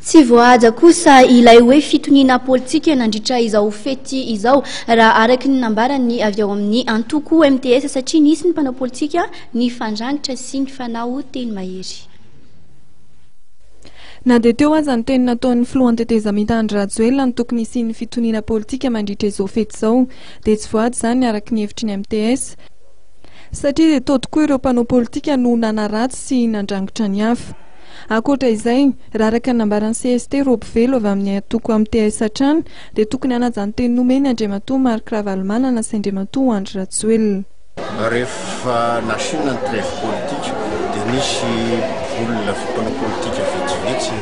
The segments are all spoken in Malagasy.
Tsy voahaja kosa ilay hoe fitoniana politika nandritra izao fety izao, raha araka ny nambaran'ny avy ao amin'ny antoko MTS, satria nisy ny mpanao politika nifandrangitra sy nifanao teny mahery. Na dia teo aza ny teny nataon'ny filohan'ny tetezamita Andry Rajoelina ny tokony hisian'ny fitoniana politika mandritra izao fety izao, dia tsy voahaja izany araka ny hevitry ny MTS, satria dia tao tokoa ireo mpanao politika no nanaratsy sy nandrangitra ny hafa. Ankoatra izay, raha araka ny nambaran'ny cst roa mpivelo avy amin'ny antoko MTS hatrany dia tokony hanaja ny teny nomen'i Andriamatoa Marc Ravalomanana sy Andriamatoa Andry Rajoelina. Rehefa nasiana ny treve politika dia nisy olona mpanao politika vitsivitsy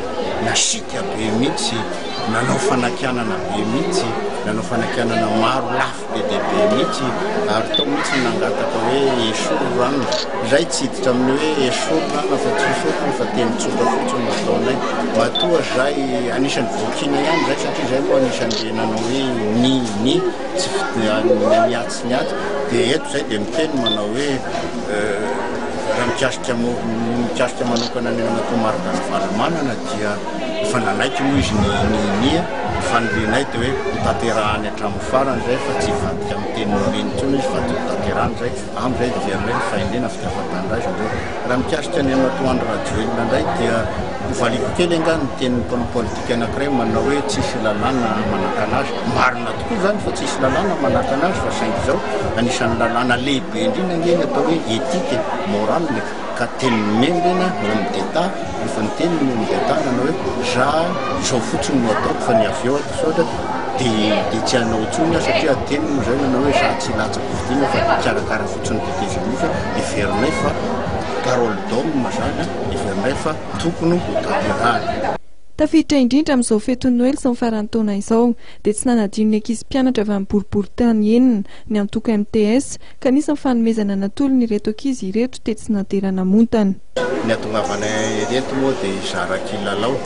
nasiaka be mihitsy, nanao fanakianana be mihitsy, nanao fanakianana maro lafy. Be dia be mihitsy ary tao mihitsy no nangataka hoe esory rano. Izahay tsy hiditra amin'ny hoe esory rano afa tsy esory rano fa teny tsotra fotsiny no ataonay. Matoa izahay anisan'ny voakiana ihany izahay satria izahay moa anisan'ireny nanao hoe ni ni tsy fidinana ny atsy ny atsy dia eto izahay dia miteny manao hoe raha mikasika mikasika manokana ny an'Atoa Marc Ravalomanana dia efa nanaiky moa izy ny ni ni. Ny fanirianay dia hoe hotanterahany hatramin'ny farany. Farany izay fa tsy hivadika amin'ny teny Noreny intsony izy fa tokony tanterahana izay amin'izay dia heverina hoe ny fahendrena sy ny afa-tanindrazana izao. Raha mikasika an'i Andriamatoa Andry Rajoelina indray dia ho valiako kely angaha ny tenin'ny mpanao politika anankiray manao hoe tsisy lalàna manakana azy. Marina tokoa izany fa tsisy lalàna manakana azy fa saingy izao anisan'ny lalàna lehibe indrindra ange ny atao hoe éthique et morale. ka teny mendrena hoan'ny deta rehefa niteny ny hoan'ny deta nanao hoe za zao fotsiny no ataoko fa ny avy eo ato soatra dia dia tsy hanao intsony aho satria teny no zay nanao hoe za tsy latsako vidina fa karakara fotsiny dite genisa heverinay fa parole d'homme zany heverinay fa tokony ho tanterahana Tafiditra indrindra amin'izao fetin'ny Noely sy ny faran'ny taona izao dia tsy nanadino ny ankizy mpianatra avy amin'ny boriboritany enina ny antoko MTS, Kanisa ny fanomezana natolony ireto ankizy ireto tetsy Nadera Namontana. Ny hahatongavana ireto moa dia hizara kilalao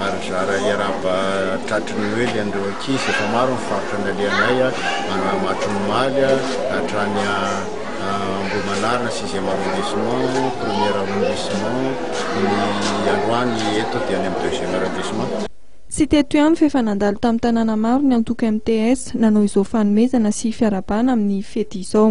ary hizara hiarahaba tratry ny Noely an'ireo ankizy. Efa maro ny faritra nalehanay, Mahatrimon'Omaly hatrany Ambohimanarina, sixième arrondissement, premier arrondissement, ny androany eto dia any amin'ny deuxième arrondissement. Tsy teto ihany fa efa nandalo tamin'ny tanàna maro ny antoko MTS nanao izao fanomezana sy fiarahabana amin'ny fety izao.